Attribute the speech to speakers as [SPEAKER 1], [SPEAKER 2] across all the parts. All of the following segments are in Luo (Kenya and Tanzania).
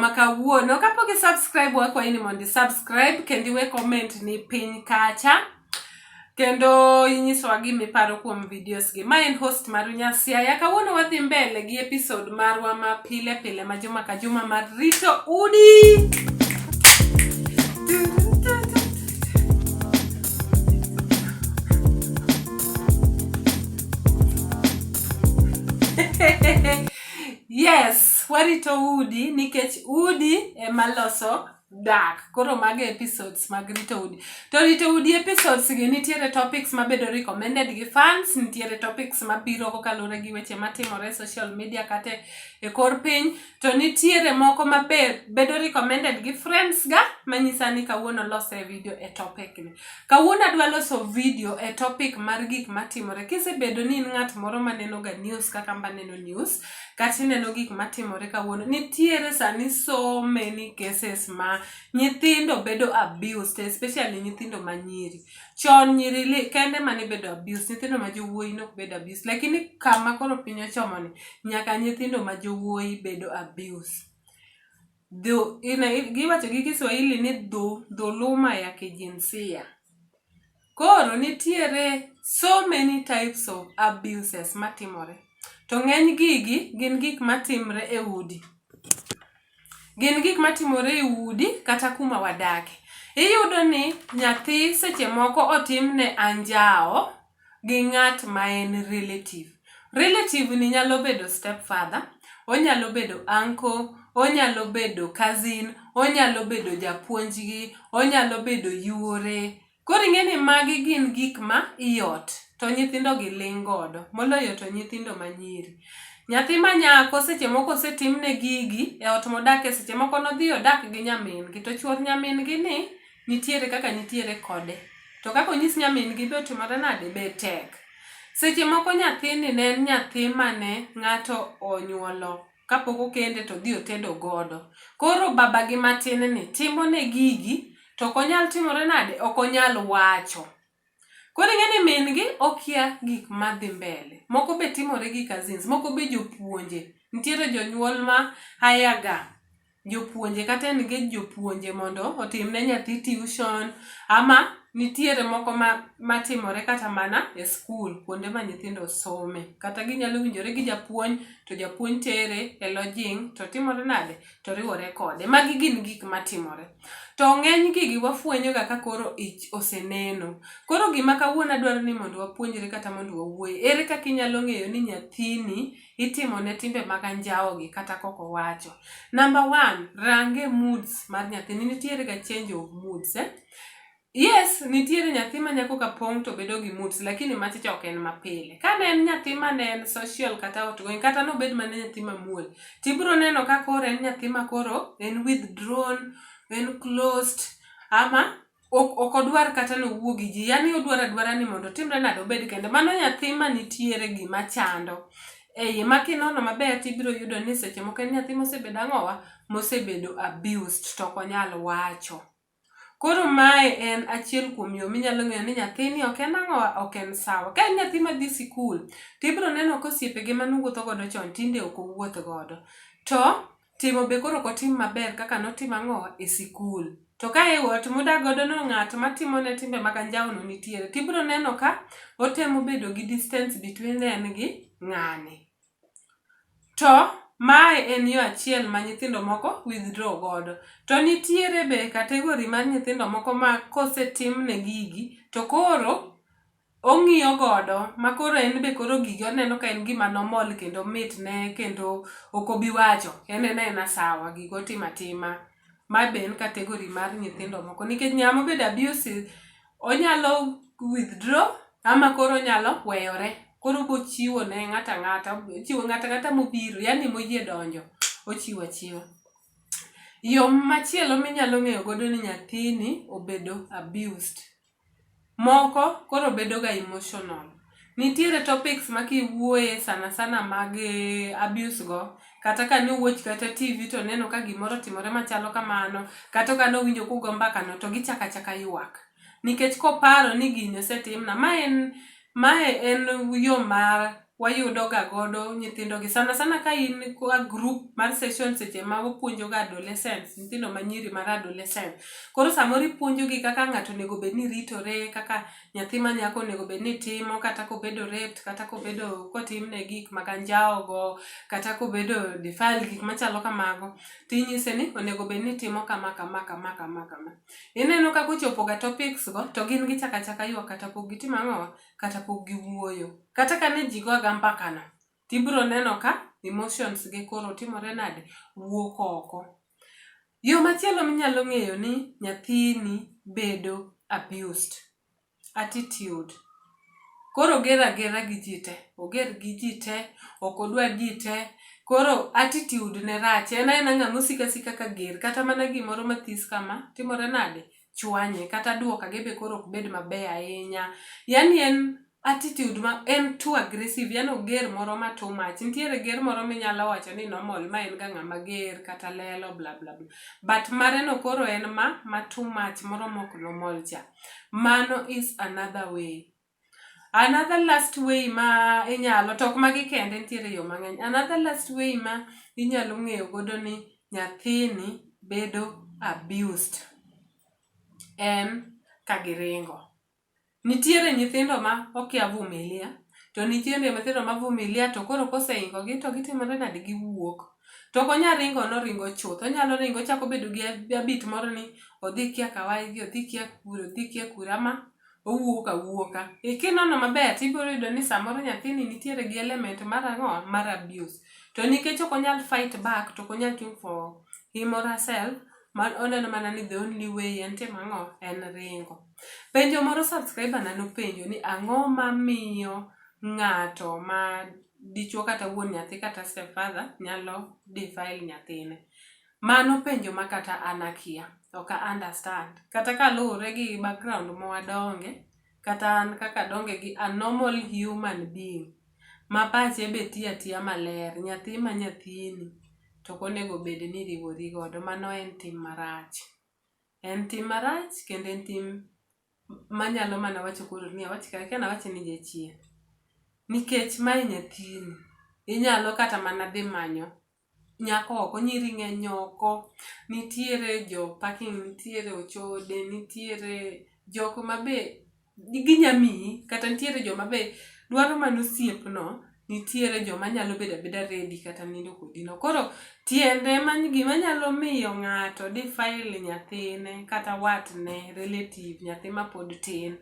[SPEAKER 1] ma kawuono kapok i subscribe wakwayi ni mondo i subscribe kendo iwe comment ni piny kacha kendo inyisowa gima iparo kuom videos gi ma en host maru nyasiaya kawuono wadhi mbele gi episode marwa ma pile pile ma juma ka juma mar rito udi Hehehehe yes warito udi nikech udi ema loso dak koro mago episodes mag rito udi to rito udi episodes gi nitiere topics mabedo recommended gi fans nitiere topics mabiro kokalure gi weche matimore e social media kata e kor piny to nitiere moko mabedo recommended gi friends ga manyisa ni kawuono lose video e topic ni Kawuono adwa loso video e topic mar gik matimore. Kisebedo ni in ng'at moro ma nenoga news kaka mba neno news, kata ineno gik matimore kawuono, nitiere sani so many cases ma nyithindo bedo abused, especially nyithindo ma nyiri. Chon nyiri li, kende ma nibedo abused, nyithindo ma jowuoyi nok bedo abused. Lakini kama koro piny ochomoni, nyaka nyithindo ma jowuoyi bedo abused. dhu, ina, giwacho gi Kiswahili ni dhu, dhuluma ya kijinsia. Koro nitiere so many types of abuses matimore. To ng'eny gigi gin gik matimre e udi. Gin gik matimore e udi kata kuma wadake. Iyudo ni nyathi seche moko otimne anjawo gi ng'at ma en relative. Relative ni nyalo bedo step father, onyalo bedo uncle, onyalo bedo cousin, onyalo bedo japuonjgi, onyalo bedo yuore. Koro ing'e ni magi gin gik ma i ot, to nyithindo gi ling' godo, moloyo to nyithindo ma nyiri. Nyathi ma nyako seche moko osetimne gigi e ot modake seche moko nodhi odak gi nyamin gi to chuor nyamin gi ni nitiere kaka nitiere kode to kaka onyis nyamin gi be otimore nade be tek seche moko nyathini ne en nyathi mane ng'ato onyuolo kapok okende to dhi otedo godo koro baba gi matin ni timo ne gigi to ok onyal timore nade ok onyal wacho Koro ing'e ni min gi okia gik ma dhi mbele. Moko be timore gi cousins, moko be jopuonje. Nitiere jonyuol ma hire ga jopuonje kata engage jopuonje mondo otim ne nyathi tuition ama nitiere moko ma matimore kata mana e skul kuonde ma nyithindo some. Kata ginyalo winjore gi japuonj to japuonj tere e lodging to timore nade? to riwore kode. Magi gin gik matimore. To ng'eny gigi wafwenyoga ka koro ich oseneno. Koro gima kawuono adwaro ni mondo wapuonjre kata mondo wawuoye, ere kaka inyalo ng'eyo ni nyathini itimone timbe mag anjawogi kata kok owacho? Namba one, range moods mar nyathini. Nitierega change of moods eh? Yes, nitiere nyathi ma nyako ka pong' to bedo gi moods lakini machicha ok en mapile. Ka ne en nyathi ma ne en social kata outgoing kata nobed mana nyathi mamuol, tibiro neno ka koro en nyathi ma koro en withdrawn, en closed ama ok ok odwar kata ni owuo gi ji. Yaani odwaro adwara ni mondo otimre nade obed kende. Mano nyathi ma nitiere gima chando e iye ma kinono maber tibiro yudo ni seche moko en nyathi mosebedo ang'owa, mosebedo abused to ok onyal wacho. Koro mae en achiel kuom yo minyalo ng'eyo ni nyathini ok en ang'o, ok en sawa. Ka en nyathi madhi sikul, tibro neno ka osiepege mane owuotho godo chon tinde ok owuoth godo. To timo be koro ok otim maber kaka notimo ang'o, e sikul. To ka e ot modak godo no ng'at matimone timbe mag anjawo no nitiere, tibro neno ka otemo bedo gi distance between en gi ng'ani. To mae en yo achiel ma nyithindo moko withdraw godo. To nitiere be category mar nyithindo moko ma kosetimne gigi to koro ong'iyo godo ma koro en be koro gigi oneno ka en gima normal kendo mitne kendo ok obi wacho, en en aena sawa, gigo otimo atima. Mae be en category mar nyithindo moko nikech ng'ama obedo abusive onyalo withdraw ama koro onyalo weyore. Koro obochiwo ne ng'ato ang'ata, ochiwo ng'ato ang'ata mobiro yani moyie donjo ochiwo achiwa. Yo machielo minyalo ng'eyo godo ni nyathini obedo abused Moko koro bedo ga emotional. Nitiere topics ma kiwuoye sana sana mag abuse go, kata ka ne watch kata TV to neno ka gimoro otimore machalo kamano, kata ka ne owinjo ka ugo mbaka no to gichako achaka ywak. Nikech koparo ni gini osetimna. Ma en, mae en yo mar. wayudo ga godo nyithindo gi sana sana ka in kwa group mar session seche ma wapuonjo ga adolescents nyithindo ma nyiri mar adolescent koro samoro ipuonjo gi kaka ng'ato onego bed ni ritore kaka nyathi ma nyako onego bed ni timo kata kobedo raped kata kobedo kotimne gik mag anjawo go kata kobedo defiled gik machalo kamago tinyise ni onego bed ni timo kama kama kama kama kama ineno kaka ochopo ga topics go to gin gichaka chaka ywak kata pok gitim ang'o kata pok giwuoyo. Kata ka ne ji goga mbakano, to ibiro neno ka emotions gi koro timore nade? Wuok oko. Yo machielo minyalo ng'eyo ni nyathini bedo abused, attitude. Koro oger agera gi ji te, oger gi ji te, ok odwa ji te, koro attitude ne rach. En aena ng'ama osiko asika ka ger, kata mana gimoro mathis kama, timore nade? chwanye kata duoka ge be koro ok bed maber ahinya yani en attitude ma en too aggressive yani oger moro ma too much nitiere ger moro minyalo wacho ni normal ma en ga ng'ama ger kata lelo bla bla bla but mare no koro en ma ma too much moro mok normal cha mano is another way Another last way ma inyalo, to ok magi kende nitiere yo mang'eny. Another last way ma inyalo ng'eyo godo ni nyathini bedo abused en ka giringo. Nitiere nyithindo ma okia vumilia, to nitiere nyithindo ma vumilia to koro koseingogi to gitimore nade? Giwuok. To ok onyal ringo noringo chuth, onyalo ringo ochako obedo gi habit moro ni odhi kia kawaigi, odhi kia kure, odhi kia kure ama. owuok awuoka. E kinono maber tibiro yudo ni samoro nyathini nitiere gi element mar ang'o mar abuse. To nikech ok onyal fight back to ok onyal chung for him or herself, man oneno mana ni the only way en timo ang'o en ringo. Penjo moro subscriber na nopenjo ni ang'o mamiyo ng'ato ma dichuo kata wuon nyathi kata stepfather nyalo defile nyathine. Mano penjo ma kata an akia. Ok a understand. Kata ka luwore gi background ma wadonge, kata an kaka adonge gi a normal human being ma pache be tiyo atiya maler, nyathi ma nyathini to ok onego bed ni iriwori godo. Mano en tim marach. En tim marach kendo en tim ma anyalo mana wacho koro ni awach kata akia ni awach ni jachien. Nikech mae nyathini. Inyalo kata mana dhi manyo nyako oko, nyiri ng'eny oko, nitiere jo parking, nitiere ochode, nitiere jok ma be ginya miyi kata nitiere joma be dwaro mana osiepno, nitiere joma nyalo bedo abeda ready kata nindo kodino. Koro tiende mano gima nyalo miyo ng'ato defile nyathine kata watne, relative, nyathi mapod tin,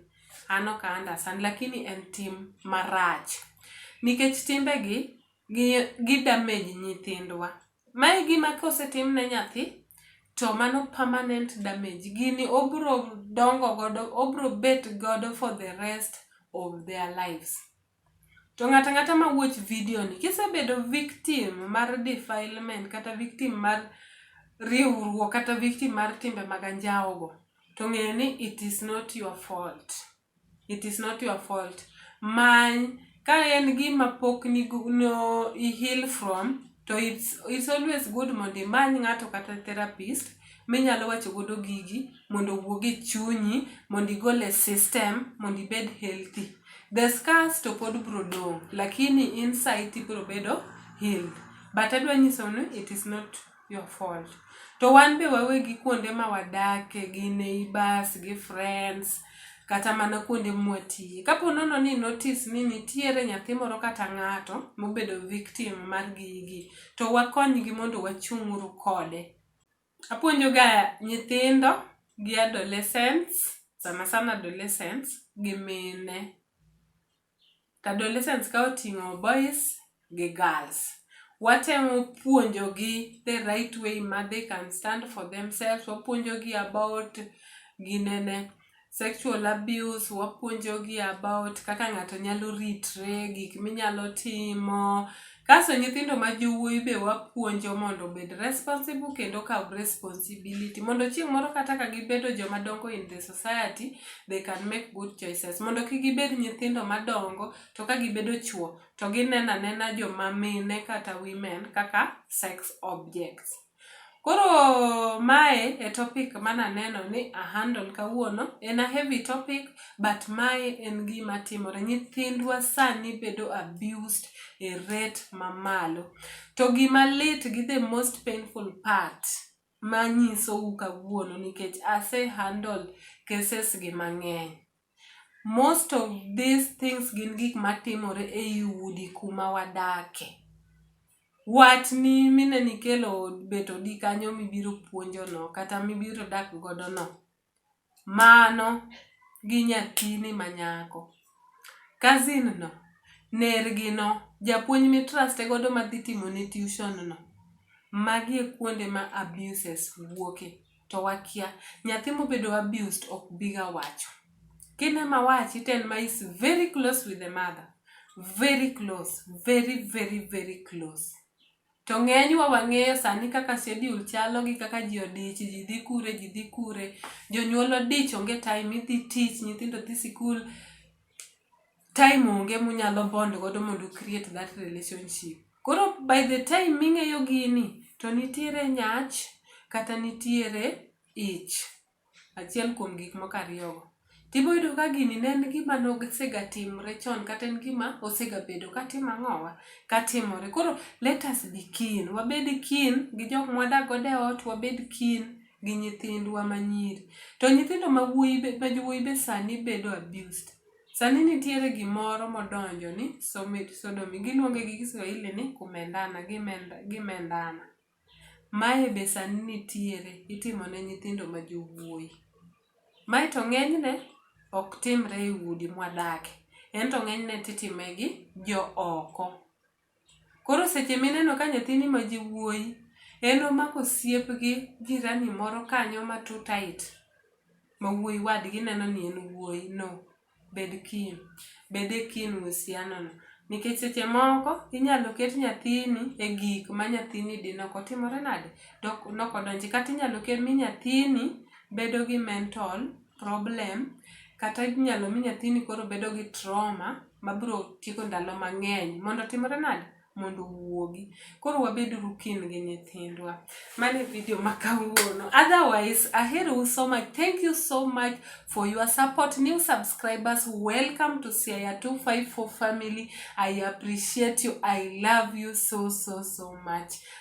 [SPEAKER 1] an ok a understand lakini en tim marach nikech timbegi gi damage nyithindwa. Ma e gima kosetim ne nyathi to mano permanent damage. Gini obro dongo godo, obro bet godo for the rest of their lives. To ng'ato ang'ata ma watch video ni, kisebedo victim mar defilement kata victim mar riwruok kata victim mar timbe mag anjawo go, to ng'e ni it is not your fault. It is not your fault. Many ka en gima pok ni no i heal from to it's, it's always good mondo imany ng'ato kata therapist minyalo wacho godo gigi mondo owuog e chunyi mondo igol e system mondo ibed healthy the scars to pod bro dong lakini inside ibro bedo healed but adwa nyiso ni it is not your fault to wan be wawegi kuonde ma wadake gi neighbors gi friends kata mana kuonde mwatiye kapo nono ni notice ni nitiere nyathi moro kata ng'ato mobedo victim mar gigi to wakonygi mondo wachung'uru kode apuonjoga nyithindo gi adolescents sana sana adolescents gi mine adolescents ka oting'o boys gi girls. Watemo puonjogi the right way ma they can stand for themselves, wapuonjogi about ginene, sexual abuse, wapuonjogi about kaka ng'ato nyalo ritre, gik minyalo timo, Kaso nyithindo ma jowuoyi be wapuonjo mondo obed responsible kendo kaw responsibility mondo chieng' moro kata ka gibedo joma dongo in the society they can make good choices mondo kik gibed nyithindo madongo to ka gibedo chwo to gineno anena joma mine kata women kaka sex objects. Koro mae e topic mane aneno ni a handle kawuono. En a heavy topic but mae en gima timore. Nyithindwa sani bedo abused e rate mamalo. To gima lit gi the most painful part manyisou kawuono nikech ase handle cases gi mang'eny. Most of these things gin gik matimore ei udi kuma wadake. Watni mineno ikelo bet odi kanyo mibiro puonjo no kata mibiro dak godo no, mano gi nyathini ma nyako. Cousin no, nergi no, japuonj mi trust godo madhi timoni tuition no, magi e kuonde ma abuses wuoke. to wakia. Nyathi mobedo abused ok biga wacho. Kin ema wachi to en ma is very close with the mother. Very close. Very very very close. To ng'enywa wang'eyo sani kaka schedule chalo gi kaka ji odich, ji dhi kure, ji dhi kure. Jonyuol odich onge time, idhi tich, nyithindo dhi sikul. time onge munyalo bond godo mondo create that relationship koro by the time ming'eyo gini to nitiere nyach kata nitiere ich achiel kuom gik moko ariyogo tibo yudo ka gini ne en gima nosegatimre chon kata en gima osegabedo katimo ang'owa katimore koro let us be keen wabed keen gi jok mwadak godo e ot wabed keen gi nyithindwa manyiri to nyithindo ma wuoyi be sani bedo abused Sani nitiere gimoro modonjo ni somit sodomi giluonge gi Kiswahili ni kumendana gimenda gimendana. Mae be sani nitiere itimo ne nyithindo ma jowuoyi. Mae to ng'enyne ok timre e udi mwadake, ento ng'enyne titime gi jo oko. Koro seche mineno ka nyathini ma ji wuoyi en omako osiep gi jirani moro kanyo ma too tight ma wuoyi wadgi neno ni en wuoyi no, bed keen, bed e keen e uhusiano no. Nikech seche moko inyalo ket nyathini e gik ma nyathini di nok otimore nade? Nok odonji. Kata inyalo mi nyathini bedo gi mental. problem kata inyalo mi nyathini koro bedo gi trauma mabiro tieko ndalo mang'eny mondo otimre nade mondo owuogi. Koro wabeduru kin gi nyithindwa. Mano e video ma kawuono. Otherwise, aherou so much. Thank you so much for your support. New subscribers, welcome to Siaya 254 family. I appreciate you. I love you so, so, so much.